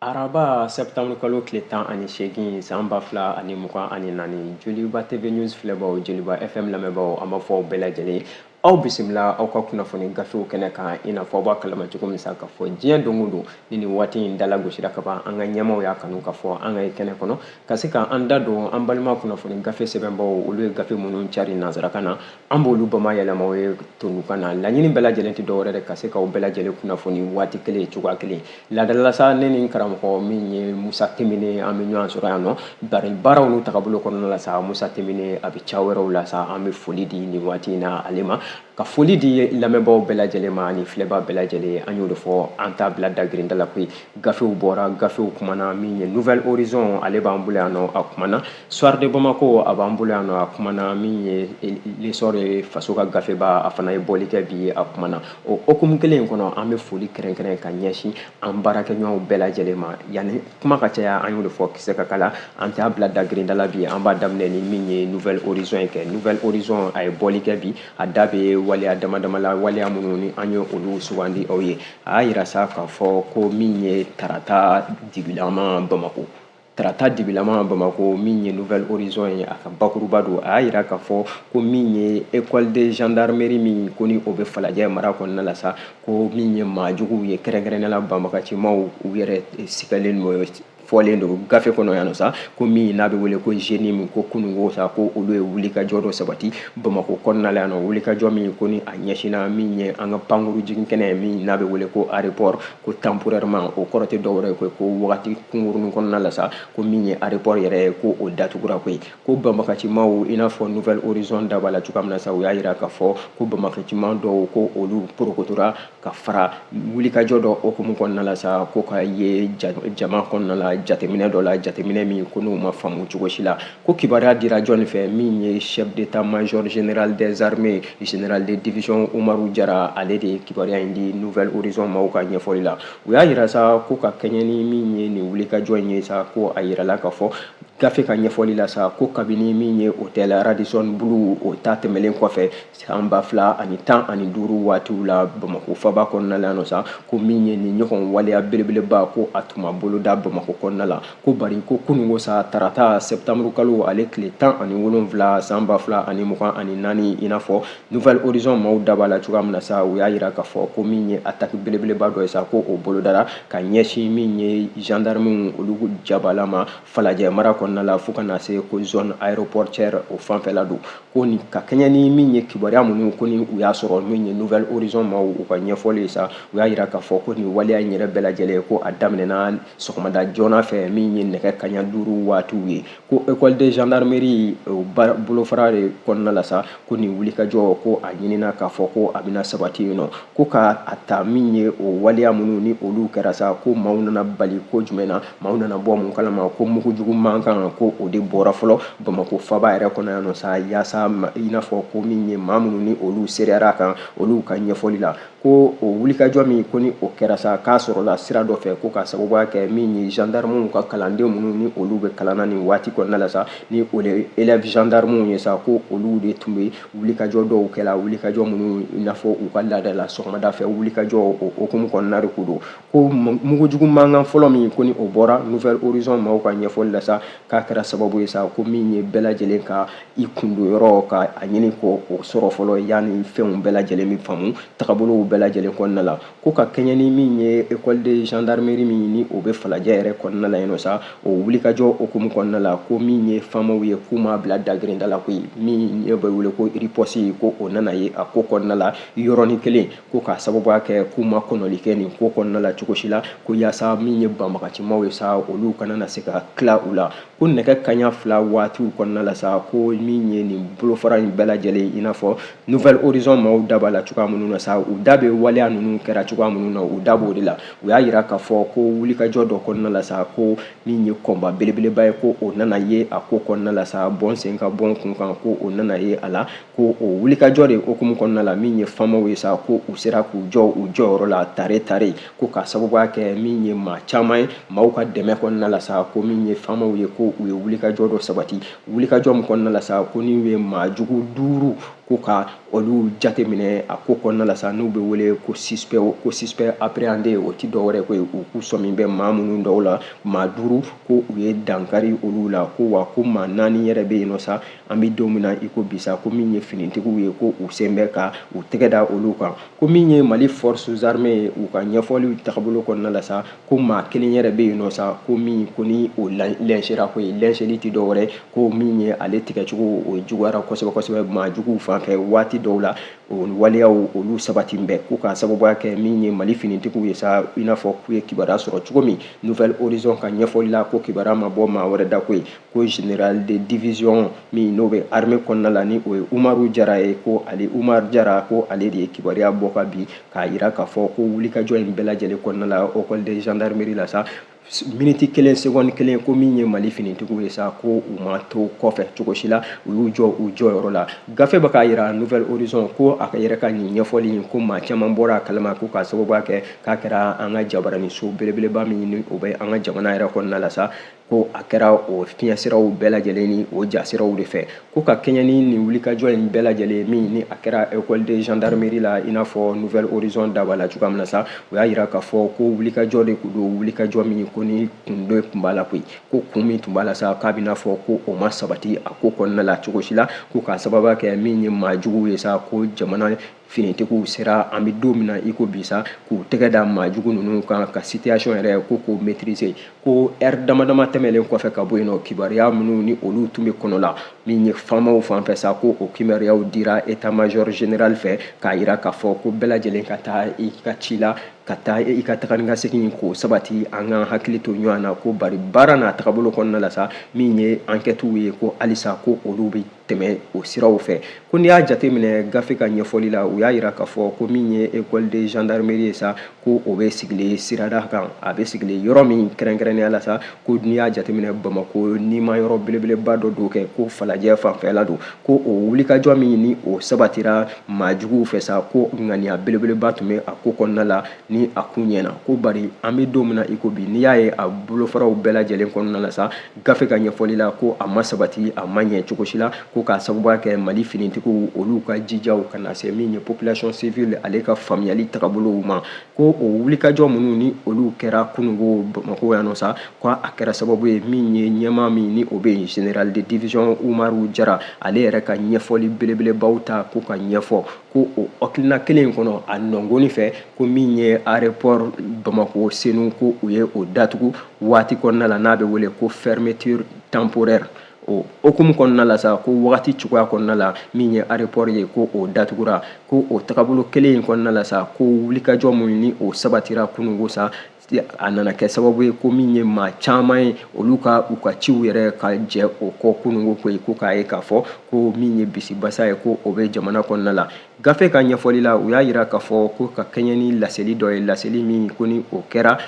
araba septembre kalo tile tan ani seegin san ba fila ani mugan ani naani joliba tv news filɛbaw joliba fm lamɛnbaaw an b'a fɔ aw bɛɛ lajɛlen aw bisimila aw ka kunnafoni gafew kɛnɛ kan i n'a fɔ aw b'a kalama cogo min sa ka fɔ diɲɛ don o don ni nin waati in dala gosira ka ban an ka ɲɛmaaw y'a kanu ka fɔ an ka ye kɛnɛ kɔnɔ ka se ka an da don an balima kunnafoni gafe sɛbɛnbaw olu ye gafe minnu cari nansarakan na an b'olu bamayɛlɛma aw ye tunukan na laɲini bɛɛ lajɛlen tɛ dɔwɛrɛ de ka se k'aw bɛɛ lajɛlen kunnafoni waati kelen cogoya kelen laada la sa ne ni karamɔgɔ min ye musa temene an bɛ ɲɔgɔn sɔrɔ yan nɔ bari baaraw n'u tagabolo kɔnɔna la sa musa temene a bɛ ca wɛrɛw la sa an bɛ foli di nin waati in na ale ma ka foli di lamɛnbaaw bɛɛ lajɛlen ma ani filɛbaa bɛɛ lajɛlen an y'o de fɔ an t'a bila dagirinda la koyi gafew bɔra gafew kumana min ye nouvel horizon ale b'an bolo yan nɔ a kumana soir de bamako a b'an bolo yan nɔ a kumana min ye l'essor ye faso ka gafeba a fana ye bɔli kɛ bi a kumana o hokumu kelen in kɔnɔ an bɛ foli kɛrɛnkɛrɛn ka ɲɛsin an baarakɛɲɔgɔnw bɛɛ lajɛlen ma yanni kuma ka caya an y'o de fɔ kisɛ ka kala an t'a bila dagirinda la bi an b'a daminɛ ni min ye nouvel horizon ye kɛ nouvel horizon a ye bɔli kɛ bi a da bɛ waleya dama dama la waleya minnu ni an ye olu sugandi aw ye a y'a yira sa k'a fɔ ko min ye tarata dibilama bamako tarata dibilama bamako min ye nouvel horizon ye a ka bakuruba don a y'a yira k'a fɔ ko min ye école de gendarmerie min ko ni o bɛ falajɛ mara kɔnɔna la sa ko min ye maajuguw ye kɛrɛnkɛrɛnnen la banbagacimaw u yɛrɛ sigalen n'o fɔlen don gafe kɔnɔ yan nɔ sa ko min n'a bɛ wele ko jnim ko kunungo sa ko olu ye wulikajɔ dɔ sabati bamako kɔnɔna la yan nɔ wulikajɔ min ko ni a ɲɛsinna min ye an ka pankuru jigin kɛnɛ min n'a bɛ wele ko aéroport ko temporairement o kɔrɔ tɛ dɔwɛrɛ ye ko ko wagati kunkurunin kɔnɔna la sa ko min ye aéroport yɛrɛ ye ko o datugura koyi ko banbagacimaw i n'a fɔ nouvel horizon da b'a la cogoya min na sa u y'a yira k'a fɔ ko banbagaciman dɔw ko olu porokotora ka fara wulikajɔ dɔ hokumu kɔnɔna la sa ko ka ye jama kɔnɔna la jateminɛ dɔ la jateminɛ min ko n'u ma faamu cogo si la ko kibaruya dira jɔni fɛ min ye chef d'état-major général des armées général de division umaru jara ale de ye kibaruya in di nouvel horizon maaw ka ɲɛfɔli la u y'a yira sa ko ka kɛɲɛ ni min ye nin wulikajɔ in ye sa ko a yirala k'a fɔ gafe ka ɲɛfɔli la sa ko kabini min ye hôtel Radisson Blu o ta tɛmɛlen kɔfɛ san ba fila ani tan ani duuru waatiw la Bamako faba kɔnɔna la yan nɔ sa ko min ye nin ɲɔgɔn waleya belebeleba ko a tun ma boloda Bamako kɔnɔna la ko bari ko kunungo sa tarata septembre kalo ale tile tan ani wolonwula san ba fila ani mugan ani naani i n'a fɔ Nouvel Horizon maaw da b'a la cogoya min na sa u y'a yira k'a fɔ ko min ye attaque belebeleba dɔ ye sa ko o bolodara ka ɲɛsin min ye gendarmew olu jabala ma falajɛ mara kɔnɔna la fo ka na se ko zone aéroportuaire o fanfɛla don ko nin ka kɛɲɛ ni min ye kibaruya minnu ko ni u y'a sɔrɔ min ye nouvel horizon maaw u ka ɲɛfɔli ye sa u y'a yira k'a fɔ ko nin waleya in yɛrɛ bɛɛ lajɛlen ko a daminɛna sɔgɔmada joona fɛ min ye nɛgɛ kaɲa duuru waatiw ye ko école de gendarmerie bolofara de kɔnɔna la sa ko nin wulikajɔ ko a ɲinina k'a fɔ ko a bɛna sabati yen nɔ ko ka a ta min ye o waleya minnu ni olu kɛra sa ko maaw nana bali ko jumɛn na maaw nana bɔ mun kalama ko mugujugu mankan ko o de bɔra fɔlɔ bamakɔ faba yɛrɛ kɔnɔ yan nɔ sa yaasa i n'a fɔ ko min ye maa minnu ni olu seereyara kan olu ka ɲɛfɔli la ko o wulikajɔ min ko ni o kɛra sa k'a sɔrɔla sira dɔ fɛ ko ka sababuya kɛ min ye gendarmew ka kalanden minnu ni olu bɛ kalan na nin waati kɔnɔna la sa ni o de élève gendarmew ye sa ko olu de tun bɛ wulikajɔ dɔw kɛla wulikajɔ minnu i n'a fɔ u ka laada la sɔgɔmada fɛ wulikajɔ o hokumu kɔnɔna de ko don ko mugujugu mankan fɔlɔ min ko ni o bɔra nouvel horizon maaw ka ɲɛfɔli la sa k'a kɛra sababu ye sa ko min ye bɛɛ lajɛlen ka i kun don yɔrɔ ka a ɲini ko o sɔrɔ fɔlɔ yanni fɛnw bɛɛ lajɛlen bɛ faamu tagabolow bɛɛ lajɛlen kɔnɔna la ko ka kɛɲɛ ni min ye école de gendarmerie min ni o bɛ falajɛ yɛrɛ kɔnɔna la yen nɔ sa o wulikajɔ hukumu kɔnɔna la ko min ye faamaw ye k'u m'a bila dagirinda la koyi min n'a bɛ wele ko riposte ko o nana ye a ko kɔnɔna la yɔrɔnin kelen ko k'a sababuya kɛ k'u ma kɔnɔli kɛ nin ko kɔnɔna la cogo si la ko yaasa min ye banbagacimaw ye sa olu kana na se ka tila u la ko nɛgɛ kaɲa fila waatiw kɔnɔna la sa ko min ye nin bolofara in bɛɛ lajɛlen i n'a fɔ nouvel horizon maaw da b'a la cogoya minnu na sa u da bɛ waleya ninnu kɛra cogoya minnu na u da b'o de la u y'a yira k'a fɔ ko wulikajɔ dɔ kɔnɔna la sa ko min ye combat belebeleba ye ko o nana ye a ko kɔnɔna la sa bɔn sen kan bɔn kun kan ko o nana ye a la ko o wulikajɔ de hokumu kɔnɔna la min ye famaw ye sa ko u sera k'u jɔ u jɔyɔrɔ la taare taare ko ka sababuya kɛ min ye maa caman ye maaw ka dɛmɛ kɔnɔna la sa ko min ye famaw ye ko u ye wulikajɔ dɔ sabati wulikajɔ min kɔnɔna la sa ko n'u ye maa jugu duuru ko ka olu jate minɛ a ko kɔnɔna la sa n'u bɛ wele ko suspect ko suspect appréhendé o ti dɔ wɛrɛ ko ye u k'u sɔmi bɛ maa minnu dɔw la maa duuru ko u ye dankari olu la ko wa ko maa naani yɛrɛ bɛ yen nɔ sa an bɛ don min na i ko bi sa ko min ye finitigiw ye ko u sen bɛ ka u tɛgɛ da olu kan ko min ye mali forces armées ye u ka ɲɛfɔliw tagabolo kɔnɔna la sa ko maa kelen yɛrɛ bɛ yen nɔ sa ko min ko ni o lynchéra ko ye lynchéli tɛ dɔ wɛrɛ ko min ye ale tigɛcogo o juguyara kosɛbɛ kosɛbɛ maa juguw fan fɛ waati dɔw la o waleyaw olu sabati bɛ ko ka sababuya kɛ min ye mali finitigiw ye sa i n'a fɔ k'u ye kibaruya sɔrɔ cogo min nouvel horizon ka ɲɛfɔli la ko kibaruya ma bɔ maa wɛrɛ da ko ye ko général de division min n'o bɛ armée kɔnɔna la ni o ye umaru jara ye ko ale umaru jara ko ale de ye kibaruya bɔ ka bi k'a yira k'a fɔ ko wulikajɔ in bɛɛ lajɛlen kɔnɔna la école de gendarmerie la sa miniti kelen segɔni kelen ko min ye mali finitigiw ye sa ko u ma to kɔfɛ cogo si la u y'u jɔ u jɔyɔrɔ la gafe bɛ k'a yira nouvel horizon ko a yɛrɛ ka nin ɲɛfɔli in ko maa caman bɔra a kalama ko k'a sababuya kɛ k'a kɛra an ka jabaraniso belebeleba min ni o bɛ an ka jamana yɛrɛ kɔnɔna la sa ko a kɛra o fiɲɛsiraw bɛɛ lajɛlen ni o jasiraw de fɛ ko ka kɛɲɛ ni nin wulikajɔ in bɛɛ lajɛlen min ni a kɛra école de gendarmerie la i n'a fɔ nouvel horizon da b'a la cogoya min na sa o y'a yira k'a fɔ ko wulikajɔ de kun don wulikajɔ min ko ni kun dɔ tun b'a la koyi ko kun min tun b'a la sa k'a bɛna fɔ ko o ma sabati a ko kɔnɔna la cogo si la ko k'a sababuya kɛ min ye maa juguw ye sa ko jamana finitigiw sera an bɛ don min na i ko bi sa k'u tɛgɛ da maa jugu ninnu kan ka situation yɛrɛ ko k'o maîtriser ko heure dama dama tɛmɛnlen kɔfɛ ka bɔ yen nɔ kibaruya minnu ni olu tun bɛ kɔnɔ la min ye faamaw fan fɛ sa ko o kibaruyaw dira état major général fɛ k'a yira k'a fɔ ko bɛɛ lajɛlen ka taa i ka ci la ka taa i ka taga ni ka segin k'o sabati an ka hakili to ɲɔgɔn na ko bari baara n'a tagabolo kɔnɔna la sa min ye enquêtew ye ko halisa ko olu bɛ tɛmɛ o siraw fɛ ko n'i y'a jateminɛ gafe ka ɲɛfɔli la u y'a yira k'a fɔ ko min ye école de gendarmerie ye sa ko o bɛ sigilen sirada kan a bɛ sigilen yɔrɔ min kɛrɛnkɛrɛnnenya la sa ko n'i y'a jateminɛ bamako nimayɔrɔ belebeleba dɔ don kɛ ko falajɛ fanfɛla don ko o wulikajɔ min ni o sabatira maa juguw fɛ sa ko ŋaniya belebeleba tun bɛ a ko kɔnɔna la ni a kun ɲɛna ko bari an bɛ don min na i ko bi n'i y'a ye a bolofaraw bɛɛ lajɛlen kɔnɔna la sa gafe ka ɲɛfɔli la ko a ma sabati a ma ɲɛ cogo si la ko k'a sababuya kɛ mali finitigiw olu ka jijaw ka na se min ye population civile ale ka faamuyali tagabolow ma ko o wulikajɔ minnu ni olu kɛra kunungo bamako yan nɔ sa ko a kɛra sababu ye min ye ɲɛmaa min ni o bɛ yen général de division umaru jara ale yɛrɛ ka ɲɛfɔli belebelebaw ta ko ka ɲɛfɔ ko o hakilina kelen in kɔnɔ a nɔngɔni fɛ ko min ye aéroport bamako senu ko u ye o datugu waati kɔnɔna la n'a bɛ wele ko fermeture temporaire o hukumu kɔnɔna la sa ko wagati cogoya kɔnɔna la min ye aéroport ye ko o datugura ko o tagabolo kelen in kɔnɔna la sa ko wulikajɔ minnu ni o sabatira kunungo sa a nana kɛ sababu ye ko min ye maa caman ye olu ka u ka ciw yɛrɛ ka jɛ o kɔ kunungo koyi ko k'a ye k'a fɔ ko min ye bisibasa ye ko o bɛ jamana kɔnɔna la gafe ka ɲɛfɔli la u y'a yira k'a fɔ ko ka kɛɲɛ ni laseli dɔ ye laseli min ko ni o kɛra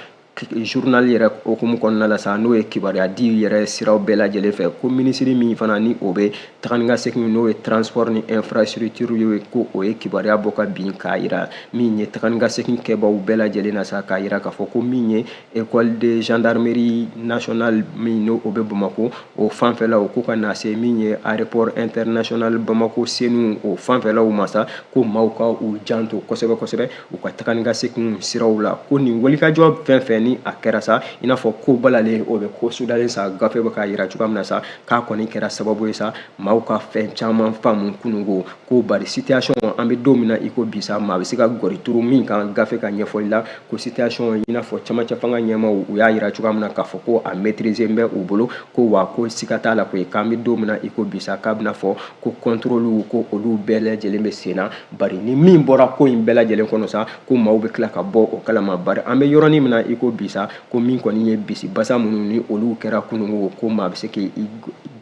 journal yɛrɛ hukumu kɔnɔna la sa n'o ye kibaruya di yɛrɛ siraw bɛɛ lajɛlen fɛ ko minisiri min fana ni o bɛ taga ni ka segin n'o ye transport ni infrastructure ye ko o ye kibaruya bɔ k'a bɛ k'a yira min ye taga ni ka segin kɛbaw bɛɛ lajɛlen na sa k'a yira k'a fɔ ko min ye école de gendarmerie nationale min n'o bɛ bamako o fanfɛlaw ko ka na se min ye aéroport international bamako senu o fanfɛlaw ma sa ko maaw ka u janto kosɛbɛ kosɛbɛ u ka taga ni ka segin siraw la ko nin wulikajɔ fɛn fɛn ni a kɛra sa i n'a fɔ ko balalen o bɛ ko sudalen sa gafe bɛ k'a yira cogoya min na sa k'a kɔni kɛra sababu ye sa maaw ka fɛn caman faamu kunungo ko bari situation an bɛ don min na i ko bi sa maa bɛ se ka gɔri turu min kan gafe ka ɲɛfɔli la ko situation i n'a fɔ camancɛ fanga ɲɛmaaw u y'a yira cogoya min na k'a fɔ ko a maîtriser bɛ u bolo ko wa ko siga t'a la koyi k'an bɛ don min na i ko bi sa k'a bɛna fɔ ko contrôle ko olu bɛɛ lajɛlen bɛ sen na bari ni min bɔra ko in bɛɛ lajɛlen kɔnɔ sa ko maaw bɛ tila ka bɔ o kalama bari an bɛ yɔrɔnin min na i ko bi sa ko min kɔni ye bisibasa minnu ni olu kɛra kunungo ko maa bɛ se k'i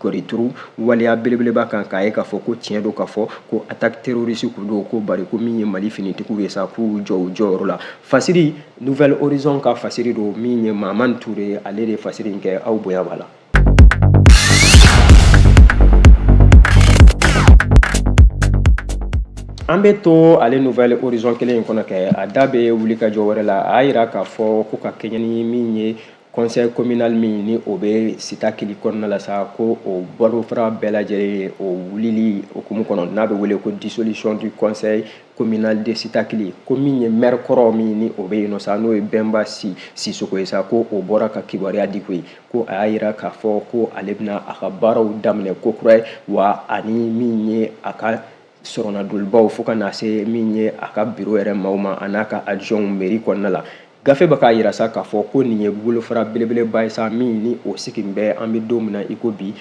gɔri turu waleya belebeleba kan k'a ye k'a fɔ ko tiɲɛ don k'a fɔ ko attaque terroriste kun don ko bari ko min ye mali finitigiw ye sa k'u jɔ u jɔyɔrɔ la fasiri nouvelle horizon ka fasiri don min ye mahamani ture ale de ye fasiri in kɛ aw bonya b'a la an bɛ to ale nouvelle horizon kelen in kɔnɔ kɛ a da bɛ wulikajɔ wɛrɛ la a y'a yira k'a fɔ ko ka kɛɲɛ ni min ye conseil communal min ni o bɛ sitakili kɔnɔna la sa ko o bolofara bɛɛ lajɛlen o wulili hukumu kɔnɔ n'a bɛ wele ko dissolution du conseil communal de sitakili ko min ye maire kɔrɔ min ni o bɛ yen nɔ sa n'o ye bɛnba si sisoko ye sa ko o bɔra ka kibaruya di koyi ko a y'a yira k'a fɔ ko ale bɛna a ka baaraw daminɛ kokura ye wa ani min ye a ka sɔrɔnadolibaw fo ka na se min ye a ka biro yɛrɛ maaw ma a n'a ka adjointw mairie kɔnɔna la gafe bɛ k'a yira sa k'a fɔ ko nin ye bolofara belebeleba ye sa min ni o sigin bɛ an bɛ don min na i ko bi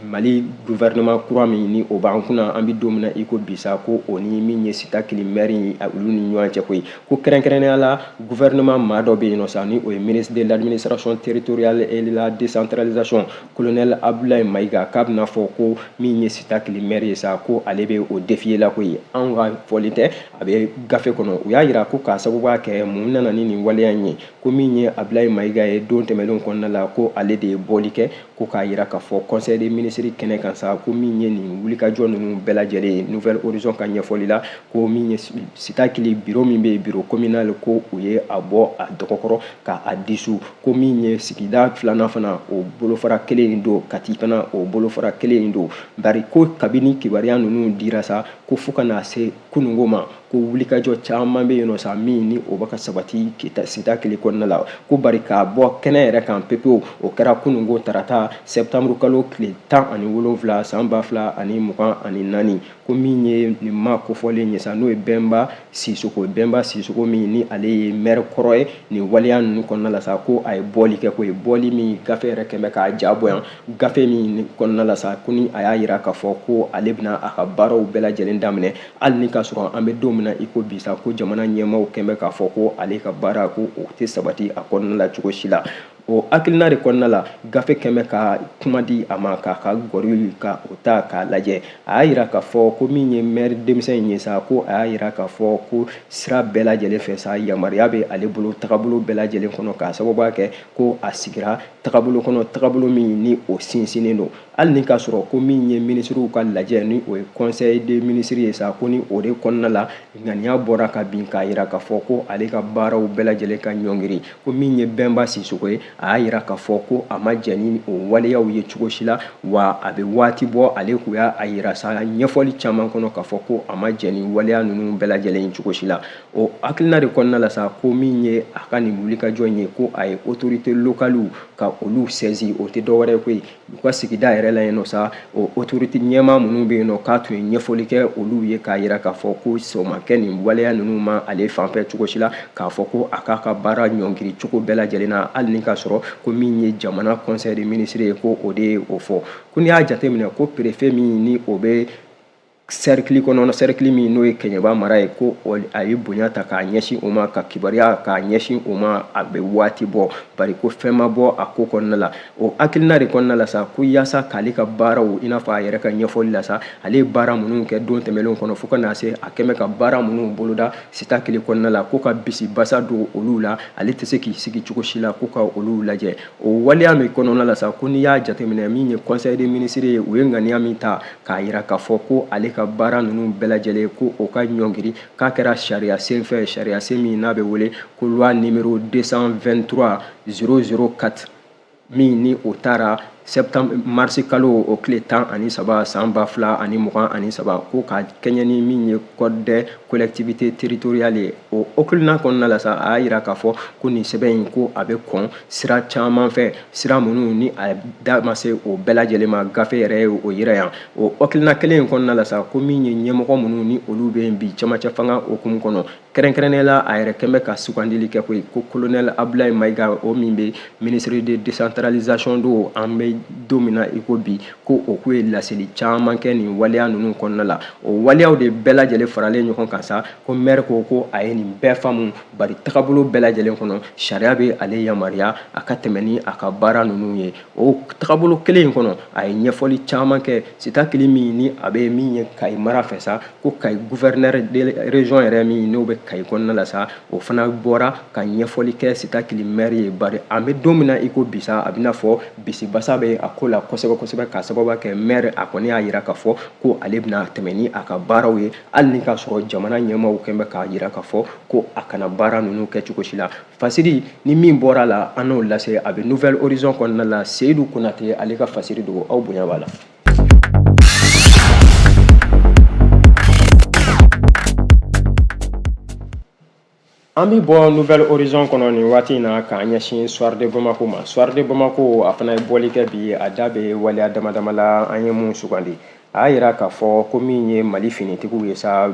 mali gouvernement kura min ni o b'an kunna an bɛ don min na i ko bi sa ko o ni min ye sitakili mɛri ye olu ni ɲɔgɔn cɛ koyi ko kɛrɛnkɛrɛnnenya la gouvernement maa dɔ bɛ yen nɔ sa ni o ye ministre de l'administration territoriale et de la décentralisation colonel abdoulaye mayiga k'a bɛna fɔ ko min ye sitakili mɛri ye sa ko ale bɛ o défier la koyi anw ka fɔli tɛ a bɛ gafe kɔnɔ u y'a yira ko k'a sababuya kɛ mun nana ni nin waleya in ye ko min ye abilayi mayiga ye don tɛmɛnlenw kɔnɔna la ko ale de ye bɔli kɛ ko k'a yira k'a fɔ conseil des ministres kɛnɛ kan sa ko min ye nin wulikajɔ ninnu bɛɛ lajɛlen ye nouvelle horizon ka ɲɛfɔli la ko min ye sitakili biro min bɛ yen biro communal ko u ye a bɔ a dɔgɔkɔrɔ ka a dissout ko min ye sigida filanan fana o bolofara kelen in don kati fana o bolofara kelen in don bari ko kabini kibaruya ninnu dira sa ko fo ka na se kunungo ma ko wulikajɔ caman bɛ yen nɔ sa min ni o bɛ ka sabati sitakili kɔnɔna la ko bari ka bɔ kɛnɛ yɛrɛ kan pepewu o kɛra kununko tarata sɛptamuru kalo tile tan ani wolonwula san ba fila ani mugan ani naani ko min ye nin maa kofɔlen ye sa n'o ye bɛnba sisoko min ni ale ye mɛri kɔrɔ ye nin waleya ninnu kɔnɔna la sa ko a ye bɔli kɛ koyi bɔli min gafe yɛrɛ kɛn bɛ k'a ja bɔ yan gafe min kɔnɔna la sa ko ni a y'a yira k'a fɔ ko ale bɛna a ka baaraw bɛɛ lajɛlen daminɛ hali ni k'a sɔrɔ an bɛ don min na i ko bi sa ko jamana ɲɛmaaw kɛn bɛ k'a fɔ ko ale ka baara ko o tɛ sabati a kɔnɔna la cogo si la o hakilina de kɔnɔna la gafe kɛn bɛ ka kuma di a ma k'a ka gɔri ka o ta k'a lajɛ a y'a yira k'a fɔ ko min ye mɛri denmisɛn in ye sa ko a y'a yira k'a fɔ ko sira bɛɛ lajɛlen fɛ sa yamaruya bɛ ale bolo tagabolo bɛɛ lajɛlen kɔnɔ k'a sababuya kɛ ko a sigira tagabolo kɔnɔ tagabolo min ni o sinsinnen don hali ni k'a sɔrɔ ko min ye minisiriw ka lajɛ ni o ye conseil des ministres ye sa ko ni o de kɔnɔna la ŋaniya bɔra ka bin k'a yira k'a fɔ ko ale ka baaraw bɛɛ lajɛlen ka ɲɔngiri ko min ye bɛnba sisoko ye a y'a yira k'a fɔ ko a ma jɛ ni o waleyaw ye cogo si la wa a bɛ waati bɔ ale kun y'a yira sa ɲɛfɔli caman kɔnɔ k'a fɔ ko a ma jɛ ni waleya ninnu bɛɛ lajɛlen ye cogo si la o hakilina de kɔnɔna la sa ko min ye a ka nin wulikajɔ in ye ko a ye autorités locales ka olu saisi o tɛ dɔwɛrɛ ye koyi u ka sigida yɛrɛ la yen nɔ sa o otorite ɲɛmaa minnu bɛ yen nɔ k'a tun ye ɲɛfɔli kɛ olu ye k'a yira k'a fɔ ko sɔn ma kɛ nin waleya ninnu ma ale fanfɛ cogo si la k'a fɔ ko a k'a ka baara ɲɔngiri cogo bɛɛ lajɛlen na hali ni k'a sɔrɔ ko min ye jamana conseil des ministres ye ko o de ye o fɔ ko n'i y'a jateminɛ ko perefe min ni o bɛ sɛrikili kɔnɔ sɛrikili min n'o ye kɛɲɛba mara ye ko a ye bonya ta k'a ɲɛsin o ma ka kibaruya k'a ɲɛsin o ma a bɛ waati bɔ bari ko fɛn ma bɔ a ko kɔnɔna la o hakilina de kɔnɔna la sa ko yaasa k'ale ka baaraw i n'a fɔ a yɛrɛ ka ɲɛfɔli la sa ale ye baara minnu kɛ don tɛmɛnlenw kɔnɔ fo ka na se a kɛn bɛ ka baara minnu boloda sitakili kɔnɔna la ko ka bisi basa don olu la ale tɛ se k'i sigi cogo si la ko ka olu lajɛ o waleya min kɔnɔna la sa ko n'i y'a jateminɛ min ye conseil des ministres ye u ye ŋaniya min ta k'a yira k'a fɔ ko ale ka baara ninnu bɛɛ lajɛlen ko o ka ɲɔngiri k'a kɛra sariya sen fɛ sariya sen min n'a bɛ wele ko loi numéro 223 004 min ni o tara septembre marisi kalo o tile tan ani saba san ba fila ani mugan ani saba ko ka kɛɲɛ ni min ye code des collectivités territoriales ye o hakilina kɔnɔna la sa a y'a yira k'a fɔ ko nin sɛbɛn in ko a bɛ kɔn sira caman fɛ sira minnu ni a da ma se o bɛɛ lajɛlen ma gafe yɛrɛ ye o yira yan o hakilina kelen in kɔnɔna la sa ko min ye ɲɛmɔgɔ minnu ni olu bɛ yen bi camancɛ fanga hukumu kɔnɔ kɛrɛnkɛrɛnnenya la a yɛrɛ kɛn bɛ ka sugandili kɛ koyi ko kolonɛli abudulayi mayiga o min bɛ ministre de décentralisation don an bɛ don min na i ko bi ko o k'u ye laseli caman kɛ nin waleya ninnu kɔnɔna la o waleyaw de bɛɛ lajɛlen faralen ɲɔgɔn kan sa ko mɛri ko ko a ye nin bɛɛ faamu bari tagabolo bɛɛ lajɛlen kɔnɔ sariya bɛ ale yamaruya a ka tɛmɛ ni a ka baara ninnu ye o tagabolo kelen in kɔnɔ a ye ɲɛfɔli caman kɛ sitakili min ni a bɛ min ye kayi mara fɛ sa ko kayi gouverneur de région yɛrɛ min n'o bɛ kayi kɔnɔna la sa o fana bɔra ka ɲɛfɔli kɛ sitakili mɛri ye bari an bɛ don min na i ko bi sa a bɛna fɔ bisibasa bɛ a ko la kosɛbɛ kosɛbɛ k'a sababu kɛ mɛri a kɔni y'a yira k'a fɔ ko ale bɛna tɛmɛ ni a ka baaraw ye hali ni k'a sɔrɔ jamana ɲɛmaaw kɛn bɛ k'a yira k'a fɔ ko a kana baara ninnu kɛ cogo si la fasiri ni min bɔra a la an n'o lase a bɛ nouvelle horizon kɔnɔna la seyidu konate ale ka fasiri don ko aw bonya b'a la an bɛ bɔ nouvelle horizon kɔnɔ nin waati in na k'an ɲɛsin soir de bamako ma soir de bamako a fana ye bɔli kɛ bi a da bɛ waleya dama dama la an ye mun sugandi a y'a yira k'a fɔ ko min ye mali finitigiw ye sa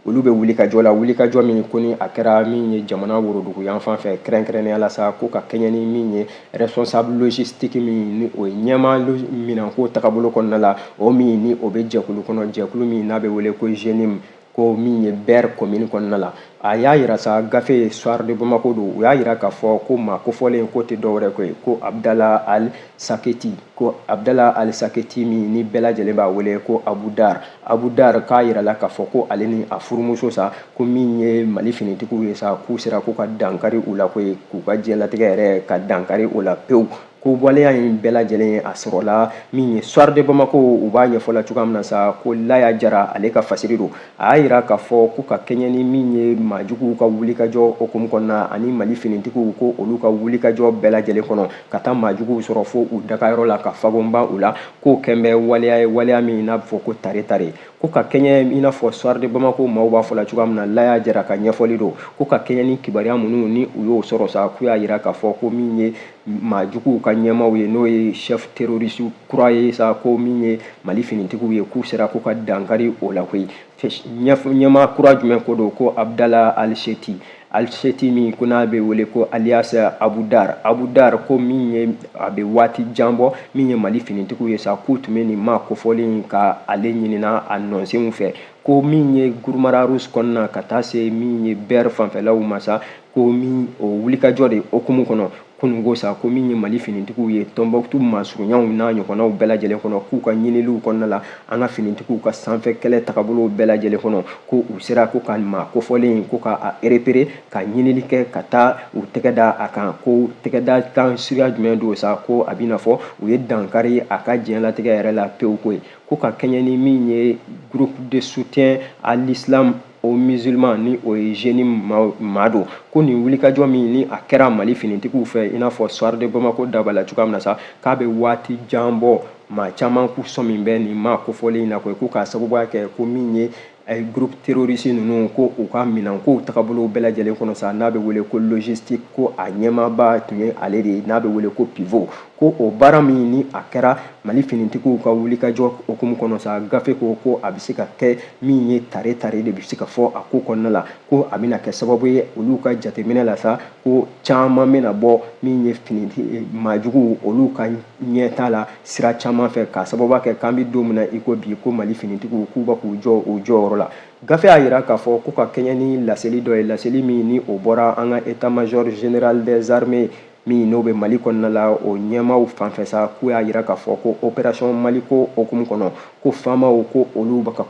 olu bɛ wulikajɔ la wulikajɔ min ko ni a kɛra min ye jamana worodugu yan fan fɛ kɛrɛnkɛrɛnnenya la sa ko ka kɛɲɛ ni min ye responsable logistique min ni o ye ɲɛmaa minanko tagabolo kɔnɔna la o min ni o bɛ jɛkulu kɔnɔ jɛkulu min n'a bɛ wele ko JNIM ko min ye bɛr komini kɔnɔna la a y'a yira sa gafe soir de bamako don u y'a yira k'a fɔ ko maa kofɔlen ko tɛ dɔwɛrɛ ko ye ko abdala al saketi ko abdala al saketi min ni bɛɛ lajɛlen b'a wele ko abu dar abu dar k'a yirala k'a fɔ ko ale ni a furumuso sa ko min ye mali finitigiw ye sa k'u sera k'u ka dankari u la koyi k'u ka diɲɛlatigɛ yɛrɛ ka dankari o la pewu ko waleya in bɛɛ lajɛlen a sɔrɔla min ye soir de bamako u b'a ɲɛfɔ la cogoya min na sa ko laya jara ale ka fasiri don a y'a yira k'a fɔ ko ka kɛɲɛ ni min ye maajuguw ka wulikajɔ hukumu kɔnɔna ani mali finitigiw ko olu ka wulikajɔ bɛɛ lajɛlen kɔnɔ ka taa maajuguw sɔrɔ fo u dagayɔrɔ la ka fagonba u la k'o kɛn bɛ waleya ye waleya min n'a bɛ fɔ ko tare tare ko ka kɛɲɛ i n'a fɔ soir de bamako maaw b'a fɔ la cogoya min na laya jara ka ɲɛfɔli don ko ka kɛɲɛ ni kibaruya minnu ni u y'o sɔrɔ sa k'u y'a yira k'a fɔ ko min ye maajuguw ka ɲɛmaaw ye n'o ye chef terroriste kura ye sa ko min ye mali finitigiw ye k'u sera k'u ka dankari o la koyi ɲɛmaa kura jumɛn ko don ko abdala alseti alseti min ko n'a bɛ wele ko alias abu dar abu dar ko min ye a bɛ waati jan bɔ min ye mali finitigiw ye sa k'u tun bɛ nin maa kofɔlen ka ale ɲinina a nɔnsenw fɛ ko min ye guruma rarus kɔnɔna ka taa se min ye bɛr fanfɛlaw ma sa ko min o wulikajɔ de hukumu kɔnɔ kununko sa ko min ye mali finitigiw ye tɔnbɔkutu masurunyaw n'a ɲɔgɔnnaw bɛɛ lajɛlen kɔnɔ k'u ka ɲiniliw kɔnɔna la an ka finitigiw ka sanfɛ kɛlɛ tagabolow bɛɛ lajɛlen kɔnɔ ko u sera ko ka maa kofɔlen ko ka repérer ka ɲinili kɛ ka taa u tɛgɛ da a kan ko tɛgɛ da kan suguya jumɛn don sa ko a bɛna fɔ u ye dankari a ka diɲɛlatigɛ yɛrɛ la pewu koyi ko ka kɛɲɛ ni min ye groupe de soutien à l'islam aux musulmans ni o ye jnim maa don ko nin wulikajɔ min ni a kɛra mali finitigiw fɛ i n'a fɔ soir de bamako da b'a la cogoya min na sa k'a bɛ waati jan bɔ maa caman k'u sɔmi bɛ nin maa kofɔlen in na koyi ko k'a sababuya kɛ ko min ye eh, groupe terroriste ninnu ko u ka minɛnkow tagabolow bɛɛ lajɛlen kɔnɔ sa n'a bɛ wele ko logistique ko a ɲɛmaaba tun ye ale de ye n'a bɛ wele ko pivot ko o baara min ni a kɛra mali finitigiw ka wulikajɔ hukumu kɔnɔ sa gafe ko ko a bɛ se ka kɛ min ye tare tare de bɛ se ka fɔ a ko kɔnɔna la ko a bɛna kɛ sababu ye olu ka jateminɛ la sa ko caman bɛna bɔ min ye finiti eh, maajuguw olu ka ɲɛtaa la sira caman fɛ k'a sababu kɛ k'an bɛ don min na i ko bi ko mali finitigiw k'u bɛ k'u jɔ o jɔyɔrɔ la gafe y'a yira k'a fɔ ko ka kɛɲɛ ni laseli dɔ ye laseli min ni o bɔra an ka état-major général des armées min n'o bɛ mali kɔnɔna la o ɲɛmaaw fanfɛ sa k'u y'a yira k'a fɔ ko opération maliko hukumu kɔnɔ ko faamaw ko olu bɛ ka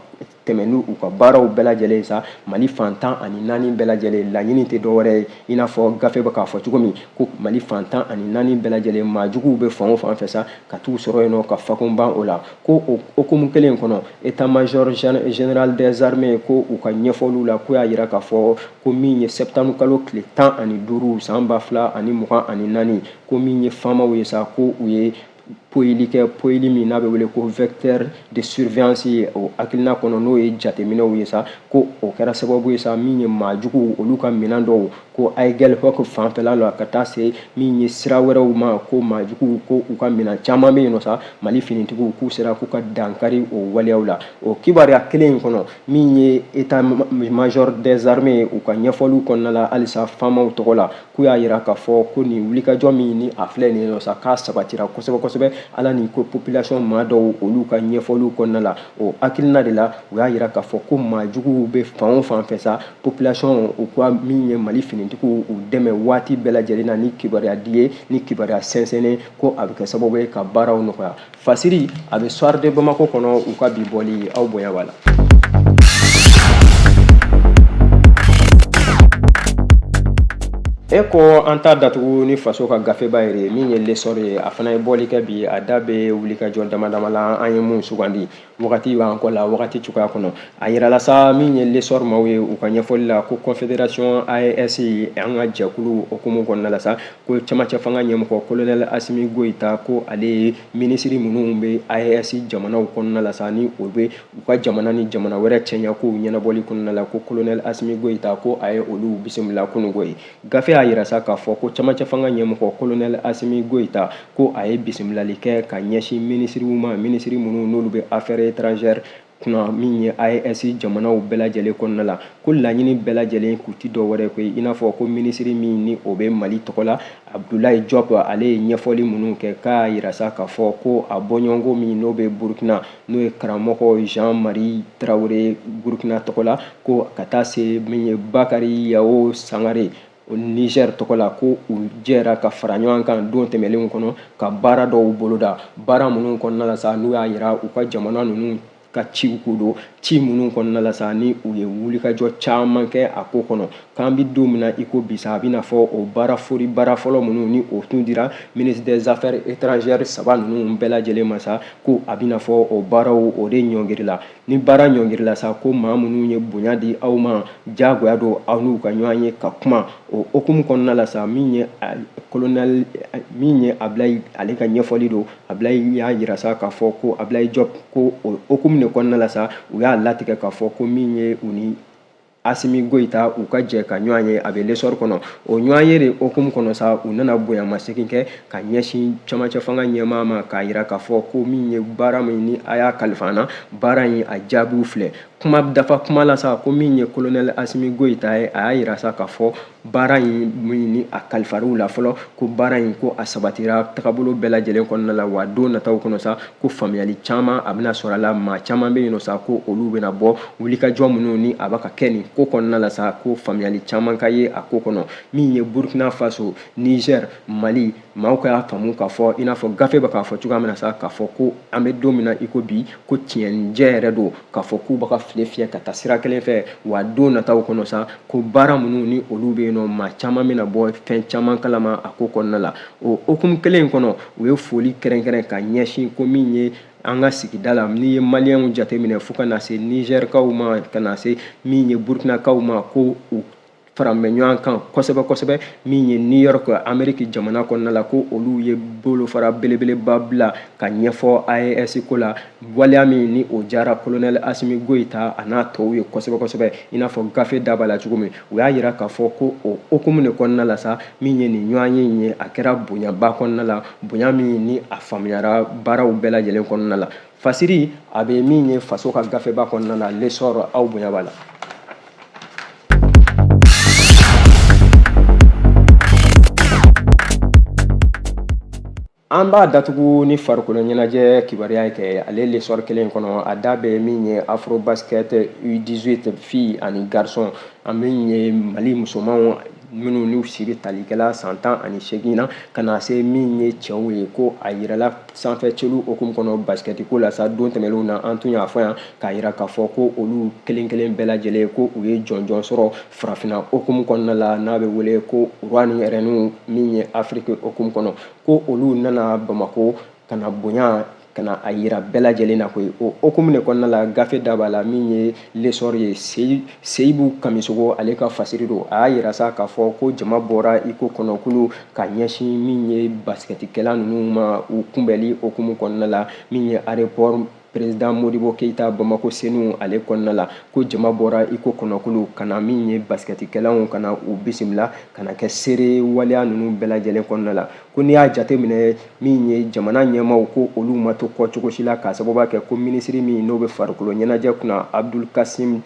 tɛmɛ ni u ka baaraw bɛɛ lajɛlen sa mali fan tan ani naani bɛɛ lajɛlen laɲini tɛ dɔwɛrɛ ye i n'a fɔ gafe bɛ k'a fɔ cogo min ko mali fan tan ani naani bɛɛ lajɛlen maajuguw bɛ fan o fan fɛ sa ka t'u sɔrɔ yen nɔ ka fakun ban o la ko o hukumu kelen kɔnɔ état-major général des armées ko u ka ɲɛfɔliw la k'u y'a yira k'a fɔ ko min ye septembre kalo tile tan ani duuru san ba fila ani mugan ani naani ko min ye faamaw ye sa ko u ye poyili kɛ poyili min n'a bɛ wele ko vecteur de surveillance ye o hakilina kɔnɔ n'o ye jateminɛw ye sa ko o kɛra sababu ye sa min ye maajuguw olu ka minɛn dɔw ko aguelhok fanfɛla la ka taa se min ye sira wɛrɛw ma ko maajuguw ko u ka minɛn caman bɛ yen nɔ sa mali finitigiw k'u sera k'u ka dankari o waleyaw la o kibaruya kelen in kɔnɔ min ye état-major des armées u ka ɲɛfɔliw kɔnɔna la halisa faamaw tɔgɔ la k'u y'a yira k'a fɔ ko nin wulikajɔ min ni a filɛ nin nɔ sa k'a sabatira kosɛbɛ kosɛbɛ ala ni ko population maa dɔw olu ka ɲɛfɔliw kɔnɔna la o hakilina de la u y'a yira k'a fɔ ko maajuguw bɛ fan o fan fɛ sa population u ka min ye mali finitigiw u dɛmɛ waati bɛɛ lajɛlen na ni kibaruya di ye ni kibaruya sɛnsɛnnen ko a bɛ kɛ sababu ye ka baaraw nɔgɔya fasiri a bɛ soir de bamako kɔnɔ u ka bi bɔli aw bonya b'a la e ko an t'a datugu ni faso ka gafeba yɛrɛ ye min ye l'essor ye a fana ye bɔli kɛ bi a da bɛ wulikajɔ dama dama la an ye mun sugandi wagati b'an kɔ la wagati cogoya kɔnɔ a yirala sa min ye lesɔr maaw ye u ka ɲɛfɔli la ko confederation aes an ka jɛkulu hukumu kɔnɔna la sa ko camancɛ fanga ɲɛmɔgɔ kolonɛl asimi goyita ko ale ye minisiri minnu bɛ aes jamanaw kɔnɔna la sa ni o bɛ u ka jamana ni jamana wɛrɛ cɛɲa kow ɲɛnabɔli kɔnɔna la ko kolonɛl asimi goyita ko a ye olu bisimila kunungo ye Gafe y'a yira sa k'a fɔ ko camancɛ fanga ɲɛmɔgɔ kolonɛli Asimi Goyita ko a ye bisimilali kɛ ka ɲɛsin minisiriw ma minisiri minnu n'olu bɛ affaires étrangères kunna min ye AES jamanaw bɛɛ lajɛlen kɔnɔna la ko laɲini bɛɛ lajɛlen kun tɛ dɔ wɛrɛ koyi i n'a fɔ ko minisiri min ni o bɛ Mali tɔgɔ la Abdoulaye Diop ale ye ɲɛfɔli minnu kɛ k'a yira sa k'a fɔ ko a bɔɲɔgɔnko min n'o bɛ Burkina n'o ye karamɔgɔ jean marie traoré burukina tɔgɔ la ko ka taa se min ye bakari yawo sangare niger tɔgɔ la ko u jɛra ka fara ɲɔgɔn kan don tɛmɛnlenw kɔnɔ ka baara dɔw boloda baara minnu kɔnɔna la sa n'u y'a yira u ka jamana ninnu ka ciw ko don ci minnu kɔnɔna la sa ni u ye wulikajɔ caman kɛ a ko kɔnɔ k'an bɛ don min na i ko bi sa a bɛna fɔ o baara fori baara fɔlɔ minnu ni o tun dira ministre des affaires étrangères saba ninnu bɛɛ lajɛlen ma sa ko a bɛna fɔ o baaraw o de ɲɔngirila ni baara ɲɔngirila sa ko maa minnu ye bonya di aw ma diyagoya don aw n'u ka ɲɔgɔn ye ka kuma o hukumu kɔnɔna la sa min ye kolonɛli min ye abilayi ale ka ɲɛfɔli don abilayi y'a yira sa k'a fɔ ko abilayi jɔp ko o hukumu de kɔnɔna la sa u y'a latigɛ k'a fɔ ko min ye u ni asimi goyita u ka jɛ ka ɲɔgɔn ye a bɛ lesɔri kɔnɔ o ɲɔgɔn ye de hukumu kɔnɔ sa u nana bonyamasegin kɛ ka ɲɛsin camancɛ fanga ɲɛmaa ma k'a yira k'a fɔ ko min ye baara min ni a y'a kalifa an na baara in a jaabiw filɛ kuma dafa kuma la sa ko min ye kolonɛli asimi goyita ye a y'a yira sa k'a fɔ baara in min ni a kalifar'u la fɔlɔ ko baara in ko a sabatira tagabolo bɛɛ lajɛlen kɔnɔna la wa don nataw kɔnɔ sa ko faamuyali caman a bɛna sɔrɔ a la maa caman bɛ yen nɔ sa ko olu bɛna bɔ wulikajɔ minnu ni a bɛ ka kɛ nin ko kɔnɔna la sa ko faamuyali caman ka ye a ko kɔnɔ min ye burkina faso niger mali maaw ka y'a faamu k'a fɔ i n'a fɔ gafe bɛ k'a fɔ cogoya min na sa k'a fɔ ko an bɛ don min na i ko bi ko tiɲɛnijɛ yɛrɛ don k'a fɔ k'u bɛ ka file fiyɛ ka taa sira kelen fɛ wa don nataw kɔnɔ sa ko baara minnu ni olu bɛ yen nɔ maa caman bɛna bɔ fɛn caman kalama a ko kɔnɔna la o hukumu kelen in kɔnɔ u ye foli kɛrɛnkɛrɛn ka ɲɛsin ko min ye an ka sigida la n'i ye maliyɛnw jateminɛ fo ka na se nizɛrikaw ma ka na se min ye burukinakaw ma ko u faran bɛ ɲɔgɔn kan kosɛbɛ kosɛbɛ min ye new york ameriki jamana kɔnɔna la ko olu ye bolofara belebeleba bila ka ɲɛfɔ aes ko la waleya min ni o diyara kolonɛl asimi goyita a n'a tɔw ye kosɛbɛ kosɛbɛ i n'a fɔ gafe da b'a la cogo min u y'a yira k'a fɔ ko o hukumu de kɔnɔna la sa min ye nin ɲɔgɔn ye in ye a kɛra bonyaba kɔnɔna la bonya min ni a faamuyara baaraw bɛɛ lajɛlen kɔnɔna la fasiri a bɛ min ye faso ka gafeba kɔnɔna la lesɔri aw bonya b'a la an b'a datugu ni farikolo ɲɛnajɛ kibaruya ye kɛ ale lesɔri kelen kɔnɔ a da bɛ min ye afrobasket u18 filles ani garçons an min ye mali musomanw minnu n'u si bɛ tali kɛla san tan ani seegin na ka na se min ye cɛw ye ko a yirala sanfɛ celu hokumu kɔnɔ basikɛti ko la sa don tɛmɛnenw na an tun y'a fɔ yan k'a yira k'a fɔ ko olu kelen kelen bɛɛ lajɛlen ko u ye jɔnjɔn sɔrɔ farafina hokumu kɔnɔna la n'a bɛ wele ko roi ni rɛniw min ye afiriki hokumu kɔnɔ ko olu nana bamako ka na bonya ka na a yira bɛɛ lajɛlen na koyi o hokumu de kɔnɔna la gafe da b'a la min ye lesɔri ye seyibu kamisogo ale ka fasiri don a y'a yira sa k'a fɔ ko jama bɔra i ko kɔnɔkulu ka ɲɛsin min ye basikɛtikɛla ninnu ma u kunbɛli hokumu kɔnɔna la min ye aéroport président modibo keyita bamako senu ale kɔnɔna la ko jama bɔra i ko kɔnɔkulu ka na min ye basikɛtikɛlaw ka na u bisimila ka na kɛ seere waleya ninnu bɛɛ lajɛlen kɔnɔna la ko n'i y'a jateminɛ min ye jamana ɲɛmaaw ko olu ma to kɔ cogo si la k'a sababuya kɛ ko minisiri min n'o bɛ farikolo ɲɛnajɛ kunna abdul kasim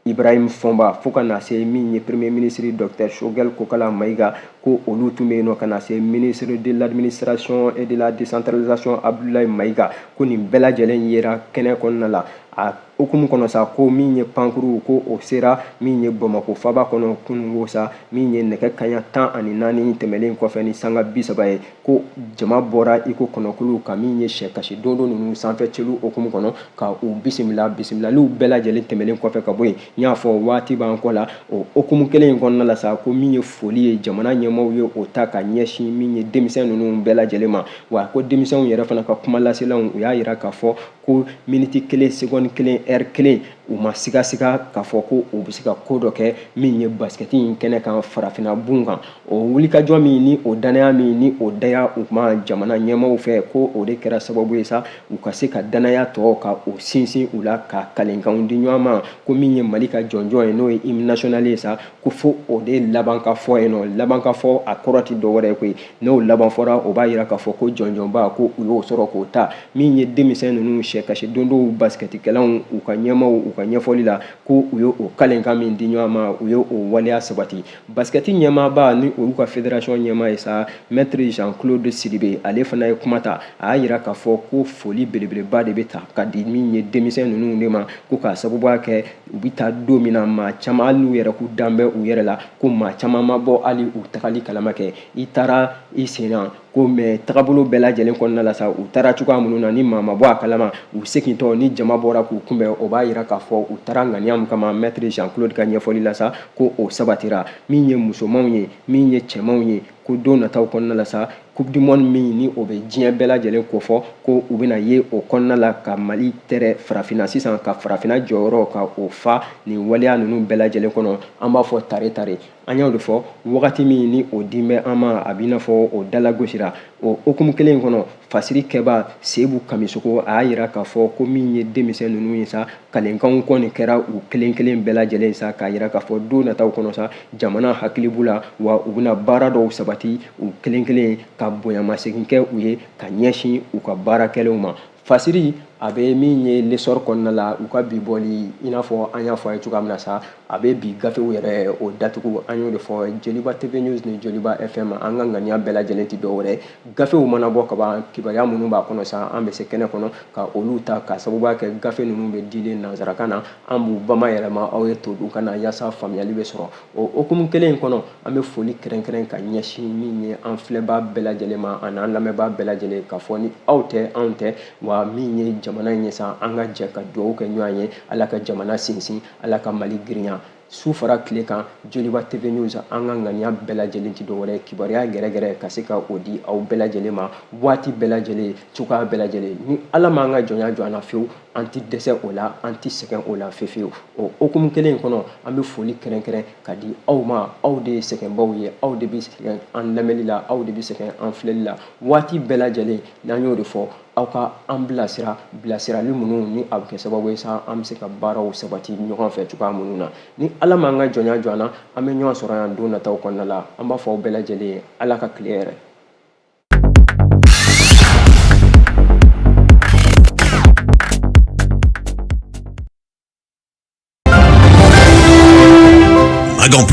ibrahim fɔnba fo ka na se min ye premier minisiri docteur shogɛl kokala mayiga ko olu tun bɛ yen nɔ ka na se ministre de l'administration et de la décentralisation abdoulaye mayiga ko nin bɛɛ lajɛlen yera kɛnɛ kɔnɔna la a hokumu kɔnɔ sa ko min ye pankurun ko o sera min ye bamakɔ faba kɔnɔ kunungo sa min ye nɛgɛ kaɲa tan ani naani tɛmɛlen kɔfɛ ni sanga bi saba ye ko jama bɔra i ko kɔnɔkulu ka min ye sɛ kasi dondo ninnu sanfɛ celu hokumu kɔnɔ ka u bisimila bisimilaliw bɛɛ lajɛlen tɛmɛlen kɔfɛ ka bɔ yen n y'a fɔ waati b'an kɔ la o hokumu kelen in kɔnɔna la sa ko min ye foli ye jamana ɲɛmaaw ye o ta ka ɲɛsin min ye denmisɛn ninnu bɛɛ lajɛlen ma wa ko denmisɛnw yɛrɛ fana ka kuma laselaw u y'a yira k'a fɔ ko miniti kelen segɔni kelen ɛri kelen u ma sigasiga k'a fɔ ko u bɛ se ka ko dɔ kɛ min ye basikɛti in kɛnɛ kan farafinna gun kan o wulikajɔ min ni o danaya min ni o daya u ma jamana ɲɛmaaw fɛ ko o de kɛra sababu ye sa u ka se ka danaya tɔ ka o sinsin u la ka kalenkanw di ɲɔgɔn ma ko min ye mali ka jɔnjɔn ye n'o ye hymne national ye sa ko fo o de laban ka fɔ yen nɔ laban ka fɔ a kɔrɔ tɛ dɔ wɛrɛ ye koyi n'o laban fɔra o b'a yira k'a fɔ ko jɔnjɔnba ko u y'o sɔrɔ k'o ta min ye denmisɛn ninnu sɛ kasi dondow basikɛtikɛlaw u ka ɲɛmaaw u ka ɲɛfɔli la ko u ye o kalenkan min di ɲɔgɔn ma u ye o waleya sabati basikɛti ɲɛmaaba ni olu ka federasiyɔn ɲɛmaa ye sa mɛtiri jean claude sidibe ale fana ye kuma ta a y'a yira k'a fɔ ko foli belebeleba de bɛ ta ka di min ye denmisɛn ninnu de ma ko k'a sababuya kɛ u bɛ taa don min na maa caman hali n'u yɛrɛ k'u dan bɛ u yɛrɛ la ko maa caman ma bɔ hali u tagali kalama kɛ i taara i sen na ko mais tagabolo bɛɛ lajɛlen kɔnɔna la sa u taara cogoya minnu na ni maa ma bɔ a kalama u segintɔ ni jama bɔra k'u kunbɛn o b'a yira k'a fɔ u taara ŋaniya min kama maître jean claude ka ɲɛfɔli la sa ko o sabatira min ye musomanw ye min ye cɛmanw ye ko don nataw kɔnɔna la sa coupe du monde min ni o bɛ diɲɛ bɛɛ lajɛlen kofɔ ko u bɛna ye o kɔnɔna la ka mali tɛrɛ farafinna sisan ka farafinna jɔyɔrɔ ka o fa nin waleya ninnu bɛɛ lajɛlen kɔnɔ an b'a fɔ tare tare an y'o de fɔ wagati min ni o dilen bɛ an ma a b'i n'a fɔ o dalagosira o hukumu kelen in kɔnɔ fasirikɛbaa seyibu kamisoko a y'a yira k'a fɔ ko min ye denmisɛn ninnu ye sa kalenkanw kɔni kɛra u kelen kelen bɛɛ lajɛlen ye sa k'a yira k'a fɔ don nataw kɔnɔ sa jamana hakili b'u la wa u bɛna baara dɔw sabati u kelen kelen ka bonyamasegin kɛ u ye ka ɲɛsin u ka baara kɛlenw ma fasiri a bɛ min ye l'essor kɔnɔna la u ka bi bɔli i n'a fɔ an y'a fɔ a ye cogoya min na sa a bɛ bi gafew yɛrɛ o datugu an y'o de fɔ joliba tv news ni joliba fm an ka ŋaniya bɛɛ lajɛlen tɛ dɔwɛrɛ gafew mana bɔ ka ban kibaruya minnu b'a kɔnɔ sa an bɛ se kɛnɛ kɔnɔ ka olu ta k'a sababuya kɛ gafe ninnu bɛ dilan nansarakan na an b'u bamayɛlɛma aw ye todunkan na yaasa faamuyali bɛ sɔrɔ o hukumu kelen in kɔnɔ an bɛ foli kɛrɛnkɛrɛn ka ɲɛsin min ye an filɛbaa bɛɛ lajɛlen ma ani an lamɛnbaa bɛɛ lajɛlen k'a fɔ ni aw tɛ anw tɛ wa min ye jamana in ye sa an ka jɛ ka dugawu kɛ ɲɔgɔn ye ala ka jamana sinsin ala ka mali girinya su fara tile kan joliba tv news an ka ŋaniya bɛɛ lajɛlen tɛ dɔwɛrɛ kibaruya gɛrɛgɛrɛ ka se ka o di aw bɛɛ lajɛlen ma waati bɛɛ lajɛlen cogoya bɛɛ lajɛlen ni ala m'an ka jɔnya jɔ an na fewu an tɛ dɛsɛ o la an tɛ sɛgɛn o la fefewu o hukumu kelen in kɔnɔ an bɛ foli kɛrɛnkɛrɛn ka di aw ma aw de ye sɛgɛnbaaw ye aw de bɛ sɛgɛn an lamɛnni la aw de bɛ sɛgɛn an filɛli la waati bɛɛ lajɛlen n'an y'o de fɔ aw ka an bilasira bilasirali minnu ni a bɛ kɛ sababu ye sa an bɛ se ka baaraw sabati ɲɔgɔn fɛ cogoya minnu na ni ala m'an ka jɔnya jɔ an na an bɛ ɲɔgɔn sɔrɔ yan don nataw kɔnɔna la an b'a fɔ aw bɛɛ lajɛlen ye ala ka tile hɛɛrɛ